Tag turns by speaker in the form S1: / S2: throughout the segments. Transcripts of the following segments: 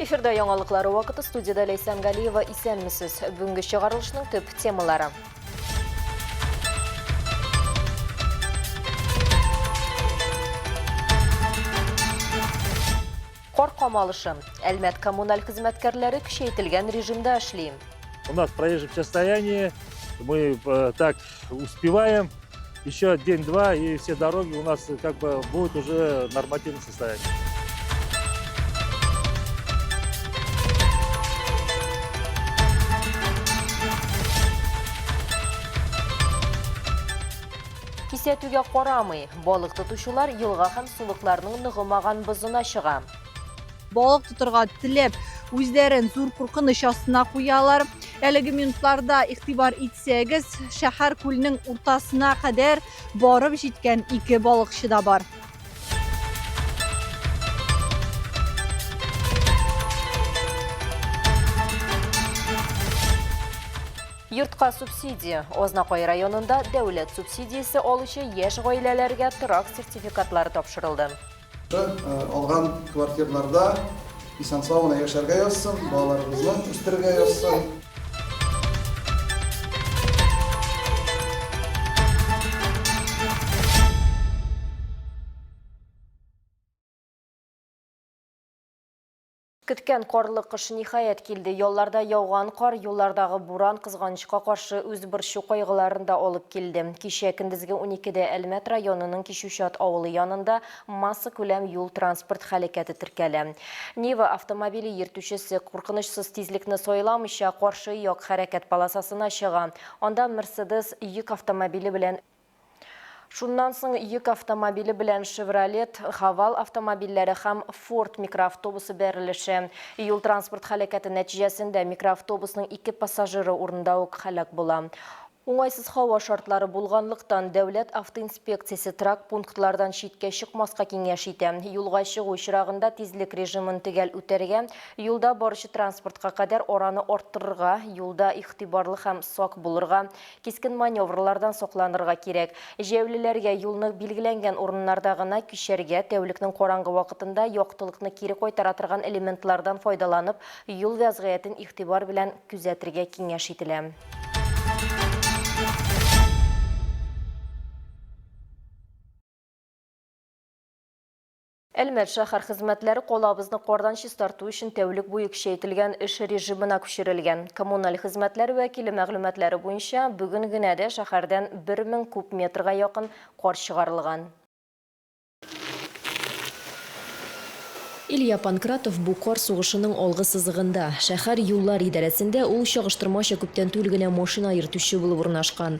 S1: Эфирда яңалыклары вакыты студияда Ләйсән Галиева исәнмесез. Бүгенге чыгарылышның төп темалары. Кар камалышы. Әлмәт коммуналь хезмәткәрләре көчәйтелгән режимда эшли. У нас проезжих
S2: состояние. Мы э, так Успеваем еще день-два, и все дороги у нас э, как бы будут уже нормативно состоять.
S1: Кисәтүгә карамый, балык тотучылар елга һәм сулыкларның ныгымаган бозына чыга. Балык
S3: тотырга теләп, үзләрен зур куркыныч астына куялар. Әлеге минутларда игътибар итсәгез, шәһәр күлнең уртасына кадәр барып җиткән ике балыкчы да бар.
S1: Йортка субсидия. Ознакай районында дәүләт субсидиясе алучы яшь гаиләләргә торак сертификатлары тапшырылды.
S4: Алган квартирларда исән-сау гына яшәргә язсын, балаларыбызны үстерергә язсын.
S1: Көткән карлы кыш ниһаять килде. Ялларда яуган кар, юллардагы буран кызганычка каршы үз борчу кайгыларын да алып килде. Кичә көндезге уникедә Әлмәт районының Кичүчат авылы янында массакүләм юл-транспорт һәлакәте теркәлә. Нива автомобиле йөртүчесе, куркынычсыз тизлекне сайламыйча, каршы як хәрәкәт полосасына чыга. Анда Мерседес йөк автомобиле белән Шуннан соң йөк автомобиле белән Шевролет, Хавал автомобильләре һәм Форд микроавтобусы бәрелеше. Юл-транспорт һәлакәте нәтиҗәсендә микроавтобусның ике пассажиры урында ук һәлак була. Уңайсыз һава шартлары булганлыктан, дәүләт автоинспекциясе трак пунктлардан читкә чыкмаска киңәш итә. Юлга чыгу очрагында тизлек режимын төгәл үтәргә, юлда баручы транспортка кадәр араны арттырырга, юлда игътибарлы һәм сак булырга, Кискен маневрлардан сакланырга кирәк. Җәяүлеләргә юлны билгеләнгән урыннарда гына кичәргә, тәүлекнең караңгы вакытында яктылыкны кире кайтара торган элементлардан файдаланып, юл вәзгыятен игътибар белән күзәтергә киңәш ителә. Әлмәт шәһәр хезмәтләре калабызны кардан чистарту өчен тәүлек буе көчәйтелгән эш режимына күчерелгән. Коммуналь хезмәтләр вәкиле мәгълүматлары буенча, бүген генә дә шәһәрдән 1000 куб метрга якын кар чыгарылган. Илья Панкратов бу кар сугышының алгы сызыгында. Шәһәр юллар идарәсендә ул чагыштырмача күптән түл генә машина йөртүче булып урнашкан.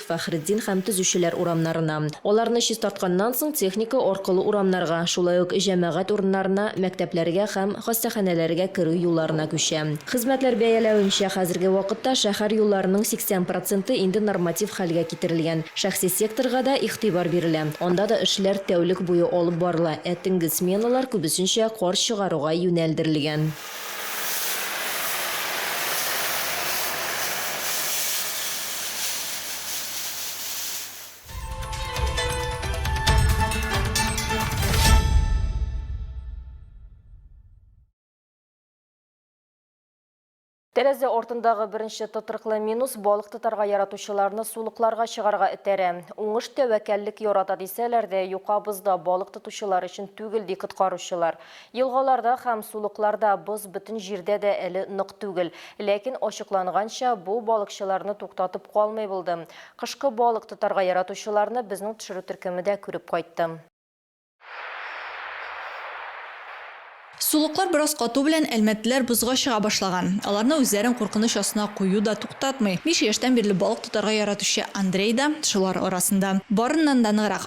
S1: Фәхретдин һәм Төзүчеләр урамнарына. Аларны чистартканнан соң техника аркылы урамнарга, шулай ук җәмәгать урыннарына, мәктәпләргә һәм хастаханәләргә керү юлларына күчә. Хезмәтләр бәяләвенчә, хәзерге вакытта шәһәр юлларының 80 проценты инде норматив хәлгә китерелгән. Шәхси секторга да игътибар бирелә. Анда да эшләр тәүлек буе алып барыла, ә төнге сменалар күбесенчә кар чыгаруга юнәлдерелгән. Тәрәзә артындагы беренче тотрыклы минус балык тотарга яратучыларны сулыкларга чыгарга этәрә. Уңыш тәвәккәллек ярата дисәләр дә, юка бозда балык тотучылар өчен түгел, ди коткаручылар. Елгаларда һәм сулыкларда боз бөтен җирдә дә әле нык түгел. Ләкин, ачыкланганча, бу балыкчыларны туктатып калмый булды. Кышкы балык тотарга яратучыларны безнең төшерү төркеме дә күреп кайтты.
S3: Сулыклар бераз кату белән әлмәтлеләр бозга чыга башлаган. Аларны үзләрен куркыныч астына кую да туктатмый. Биш яшьтән бирле балык тотарга яратучы Андрей да шулар арасында. Барыннан да ныграк.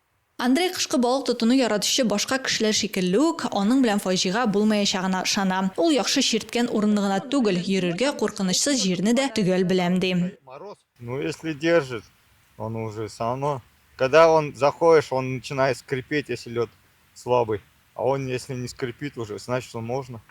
S3: Андрей кышкы балык тотуны яратучы башка кешеләр шикелле үк, аның белән фаҗига булмаячагына ышана. Ул яхшы чирткән урынны гына түгел, йөрергә куркынычсыз җирне дә төгәл беләм, ди. Ну, если
S5: держит, он уже всё равно, когда он заходишь, он начинает скрипеть, если лед слабый. А он если не скрипит уже, значит он можно.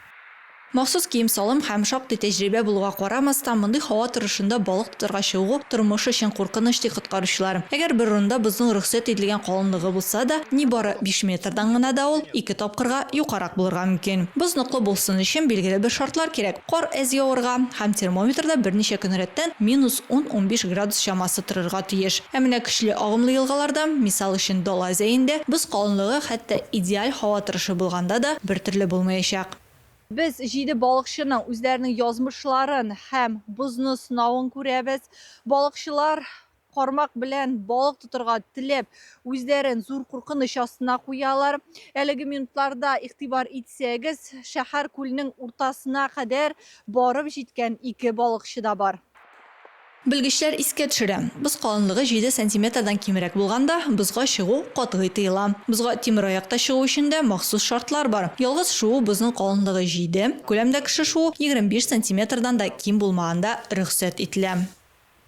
S5: Махсус
S3: кием-салым һәм шактый тәҗрибә булуга карамастан, мондый һава торышында балык тотарга чыгу, тормыш өчен куркыныч, ди коткаручылар. Әгәр бер урында бозның рөхсәт ителгән калынлыгы булса да, нибары биш метрдан гына да ул ике тапкырга юкарак булырга мөмкин. Боз ныклы булсын өчен, билгеле бер шартлар кирәк. Кар әз явырга һәм термометрда берничә көн рәттән минус ун-унбиш градус чамасы торырга тиеш. Ә менә көчле агымлы елгаларда, мисал өчен Дала зәендә, боз калынлыгы хәтта идеаль һава торышы булганда да бертөрле булмаячак. Без җиде балыкчының үзләренең язмышларын һәм бозны сынавын күрәбез. Балыкчылар кармак белән балык тотырга теләп, үзләрен зур куркыныч астына куялар. Әлеге минутларда игътибар итсәгез, шәһәр күлнең уртасына кадәр барып җиткән ике балыкчы да бар. Белгечләр искә төшерә, боз калынлыгы җиде сантиметрдан кимрәк булганда, бозга чыгу катгый тыела. Бозга тимер аякта чыгу өчен дә махсус шартлар бар. Ялгыз шуу бозның калынлыгы җиде, күләмдә кеше шуу егерме биш сантиметрдан да ким булмаганда рөхсәт ителә.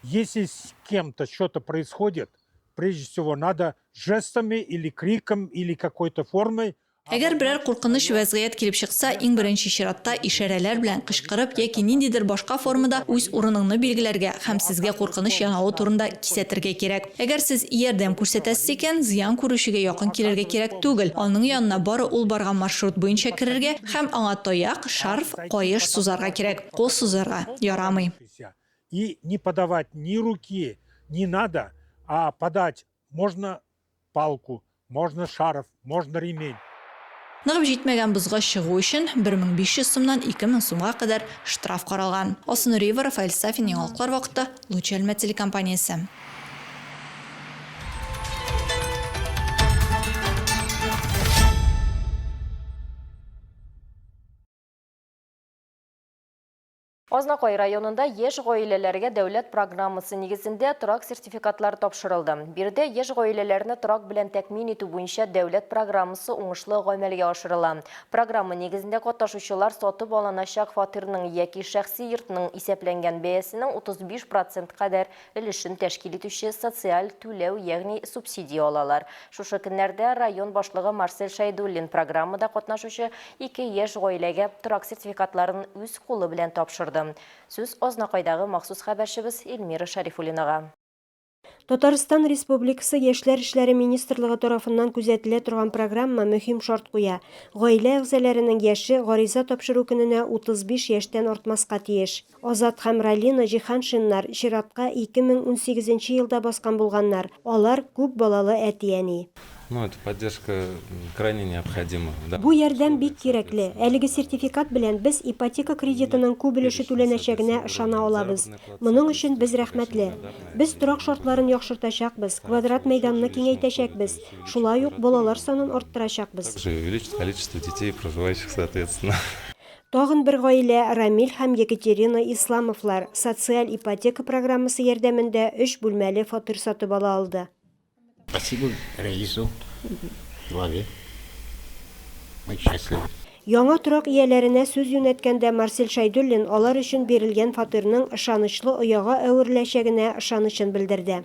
S3: Если
S6: с кем-то что-то происходит, прежде всего надо жестами или криком или какой-то формой Әгәр берәр
S3: куркыныч вәзгыять килеп чыкса, иң беренче чиратта ишарәләр белән кычкырып яки ниндидер башка формада үз урыныңны билгеләргә һәм сезгә куркыныч янавы турында кисәтергә кирәк. Әгәр сез ярдәм күрсәтәсез икән, зыян күрүчегә якын килергә кирәк түгел, аның янына бары ул барган маршрут буенча керергә һәм аңа таяк, шарф, каеш сузарга кирәк, кул сузарга ярамый. и
S6: не подавать ни руки, не надо, а подать можно палку, можно шарф, можно ремень. Ныгып
S3: җитмәгән бозга чыгу өчен 1500 сумнан 2000 сумга кадәр штраф каралган. Алсу Нуриева, Рафаэль Сафин, Яңалыклар вакыты, Луч Әлмәт телекомпаниясе.
S1: Азнакай районында яшь гаиләләргә дәүләт программасы нигезендә торак сертификатлары тапшырылды. Биредә яшь гаиләләрне торак белән тәкъмин итү буенча дәүләт программасы уңышлы гамәлгә ашырыла. Программа нигезендә катнашучылар сатып алыначак фатирның яки шәхси йортның исәпләнгән бәясенең 35 процент кадәр өлешен тәшкил итүче социаль түләү, ягъни субсидия алалар. Шушы көннәрдә район башлыгы Марсель Шәйдуллин программада катнашучы ике яшь гаиләгә торак сертификатларын үз кулы белән тапшырды. Сүз Азнакайдагы махсус хәбәрчебез Эльмира Шәрифуллинага.
S7: Татарстан Республикасы Яшьләр эшләре министрлыгы тарафыннан күзәтелә торган программа мөһим шарт куя, гаилә әгъзаләренең яше гариза тапшыру көненә 35 яшьтән артмаска тиеш. Азат һәм Ралина Җиһаншиннар чиратка 2018 нче елда баскан булганнар, алар күп балалы әти-әни.
S8: Бу ярдәм бик
S7: кирәкле. Әлеге сертификат белән без ипотека кредитының күп өлеше түләнәчәгенә ышана алабыз. Моның өчен без рәхмәтле. Без торак шартларын яхшыртачакбыз, квадрат мәйданны киңәйтәчәкбез, шулай ук балалар санын арттырачакбыз.
S8: Тагын бер
S7: гаилә, Рамил һәм Екатерина Исламовлар, социаль ипотека программасы ярдәмендә өч бүлмәле фатир сатып ала алды. Спасибо
S9: Рәису главе. Мы счастливы. Яңа торак
S7: ияләренә сүз юнәткәндә Марсель Шәйдуллин алар өчен бирелгән фатирның ышанычлы ояга әвереләчәгенә ышанычын белдерде.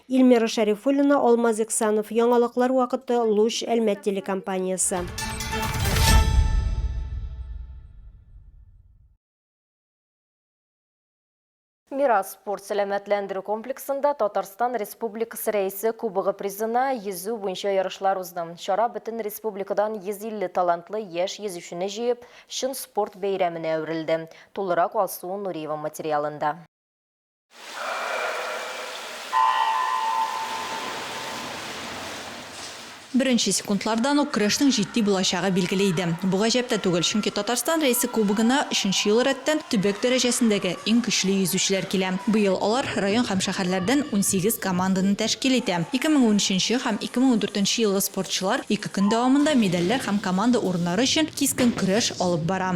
S9: Ильмира
S7: Шәрифуллина, Алмаз Иксанов, Яңалыклар вакыты, Луч, Әлмәт телекомпаниясе.
S1: Мирас спорт сәламәтләндерү комплексында Татарстан Республикасы рәисе кубогы призына йөзү буенча ярышлар узды. Чара бөтен республикадан 150 талантлы яшь йөзүчене җыеп, чын спорт бәйрәменә әверелде. Тулырак Алсу Нуриева материалында.
S10: Беренче секундлардан ук көрәшнең җитди булачагы билгеле иде. Бу гаҗәп тә түгел, чөнки Татарстан Рәисе Кубогына өченче ел рәттән төбәк дәрәҗәсендәге иң көчле йөзүчеләр килә. Быел алар район һәм шәһәрләрдән унсигез команданы тәшкил итә. Ике мең унөченче һәм ике мең ундүртенче елгы спортчылар ике көн дәвамында медальләр һәм команда урыннары өчен кискен көрәш алып бара.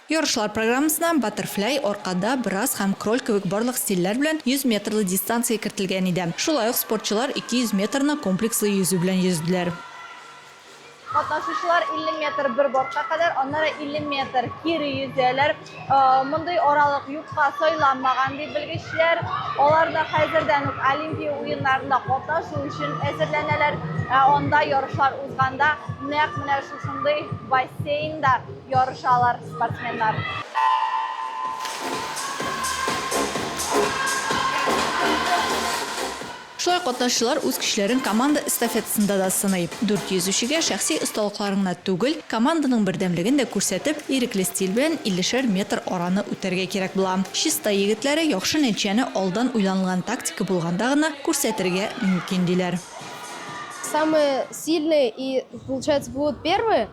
S10: Ярышлар программасына баттерфляй, аркада, брас һәм кроль кебек барлык стильләр белән 100 метрлы дистанция кертелгән иде. Шулай ук спортчылар 200 метрны комплекслы йөзү белән йөзделәр. Катнашучылар
S3: 50 метр бер бортка кадәр, аннары 50 метр кире йөзәләр. Мондый аралык юкка сайланмаган, ди белгечләр. Алар да хәзердән үк Олимпия уеннарында катнашу өчен әзерләнәләр. Ә анда ярышлар узганда нәкъ менә шушындый бассейнда ярышалар спортсменнар.
S10: Шулай катнашчылар үз көчләрен команда эстафетасында да сыный. Дүрт йөзүчегә шәхси осталыкларын гына түгел, команданың бердәмлеген дә күрсәтеп, ирекле стиль белән иллешәр метр араны үтәргә кирәк була. Чистай егетләре яхшы нәтиҗәне алдан уйланылган тактика булганда гына күрсәтергә мөмкин, диләр. Самые
S11: сильные и получается будут первые.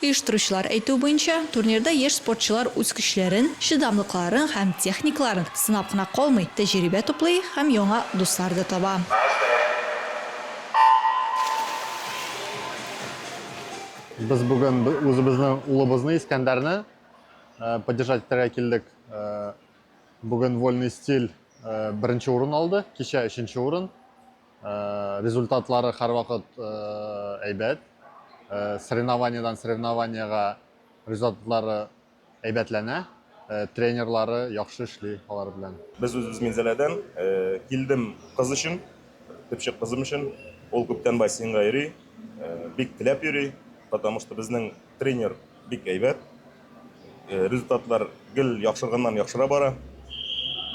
S10: Оештыручылар әйтүе буенча, турнирда яшь спортчылар үз көчләрен, чыдамлыкларын һәм техникаларын сынап кына калмый, тәҗрибә туплый һәм яңа дуслар да таба.
S5: Без бүген үзебезнең улыбызны, Искәндәрне поддержать итәргә килдек. Бүген Вольный стиль беренче урын алды, кичә өченче урын. Результатлары һәрвакыт әйбәт. Соревнованиедән соревнованиегә результатлары әйбәтләнә. Тренерлары яхшы эшли алар белән. Без үзебез Минзәләдән.
S12: Килдем кыз өчен, төпчек кызым өчен. Ул күптән бассейнга йөри, бик теләп йөри, потому что безнең Тренер бик әйбәт. Э, результатлар гел яхшырганнан яхшыра бара.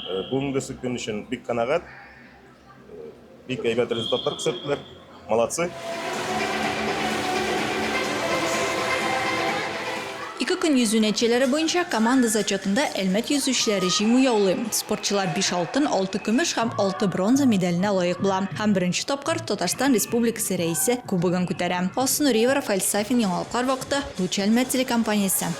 S12: Э, бүгенгесе көн өчен бик канәгать. Э, бик әйбәт результатлар күрсәттеләр. Молодцы.
S10: Ике көн йөзү нәтиҗәләре буенча команда зачетында Әлмәт йөзүчеләре җиңү яулый. Спортчылар 5 алтын, 6 көмеш һәм 6 бронза медаленә лаек була һәм беренче тапкыр Татарстан Республикасы Серәисе кубогын күтәрә. Алсу Нуриева, Рафаэль Сафин, Яңалыклар вакыты, Луч Әлмәт телекомпаниясе.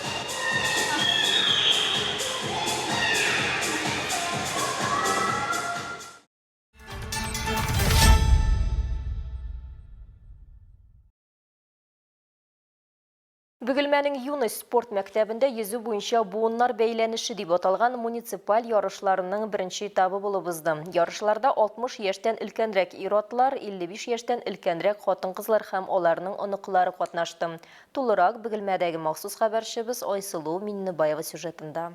S1: Бөгелмәнең Юность спорт мәктәбендә йөзү буенча буыннар бәйләнеше дип аталган муниципаль ярышларының беренче этабы булып узды. Ярышларда 60 яшьтән өлкәнрәк ир-атлар, 55 яшьтән өлкәнрәк хатын-кызлар һәм аларның оныклары катнашты. Тулырак Бөгелмәдәге махсус хәбәрчебез Айсылу Миннебаева сюжетында.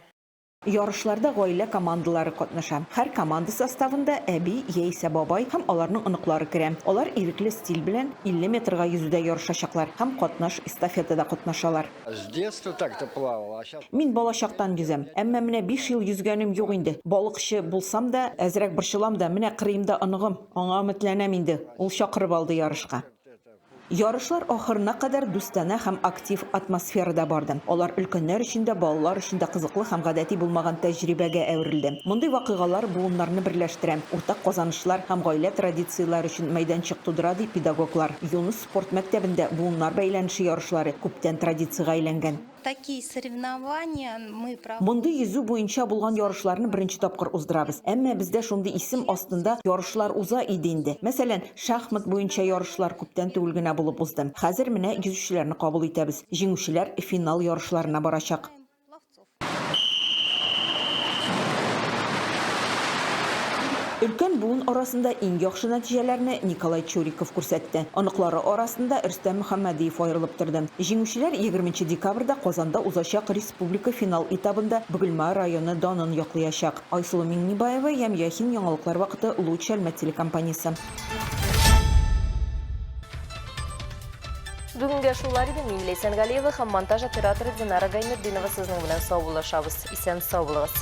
S13: Ярышларда гаилә командалары катнаша. Һәр команда составында әби яисә бабай һәм аларның оныклары керә. Алар ирекле стиль белән 50 метрга йөзүдә ярышачаклар һәм катнаш эстафетада катнашалар.
S14: Мин балачактан йөзәм.
S13: Әмма менә биш ел йөзгәнем юк инде. Балыкчы булсам да, әзрәк борчылам да, менә кырыемда оныгым, аңа өметләнәм инде, ул чакырып алды ярышка. Ярышлар ахырына кадәр дустанә һәм актив атмосферада барды. Алар өлкәннәр өчен дә, балалар өчен дә кызыклы һәм гадәти булмаган тәҗрибәгә әверелде. Мондый вакыйгалар буыннарны берләштерә, уртак казанышлар һәм гаилә традицияләре өчен мәйданчык тудыра, ди педагоглар. Юныс спорт мәктәбендә буыннар бәйләнеше ярышлары күптән традициягә әйләнгән. Такие
S15: соревнования мы проводим. Мондый йөзү буенча
S13: булган ярышларны беренче тапкыр уздырабыз. Әмма бездә шундый исем астында ярышлар уза иде инде. Мәсәлән, шахмат буенча ярышлар күптән түгел генә булып узды. Хәзер менә йөзүчеләрне кабул итәбез. Җиңүчеләр финал ярышларына барачак. Өлкән буын арасында иң яхшы нәтиҗәләрне Николай Чуриков күрсәтте. Оныклары арасында Рөстәм Мөхәммәдиев аерылып торды. Җиңүчеләр егерменче декабрьдә Казанда узачак республика финал этабында Бөгелма районы данын яклыячак. Айсылу Миңнебаева, Ямь Яхин, Яңалыклар вакыты, Луч Әлмәт телекомпаниясе.
S1: Бүгенгә шулар иде, мин Ләйсән Галиева һәм монтаж операторы Динара Гайнетдинова сезнең белән саубуллашабыз. Исән-сау булыгыз!